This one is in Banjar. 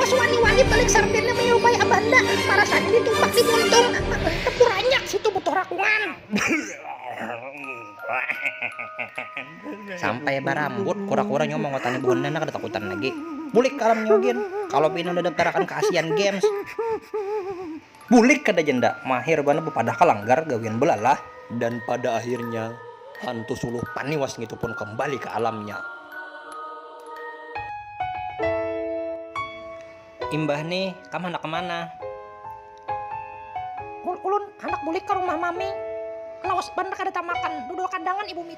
Bos wani-wani balik sardennya menyerupai abanda, marasanya ditumpak di muntung, tepuranyak si tubuh tuh rakungan. Sampai barambut, kura-kura nyawa mangotani buhannya nang kada takutan lagi. Bulik ka alam nyawa gin, kalo pina udah daptarakan ka Asian Games. Bulik kada janda, mahir banar bapadah ka langgar gawian belalah. Dan pada akhirnya hantu suluh paniwas ngitu pun kembali ka alamnya. Imbah ni kam handak kemana? Ulun handak bulik ka rumah mami, lawas banar kada tamakan dudul kandangan ibu miti.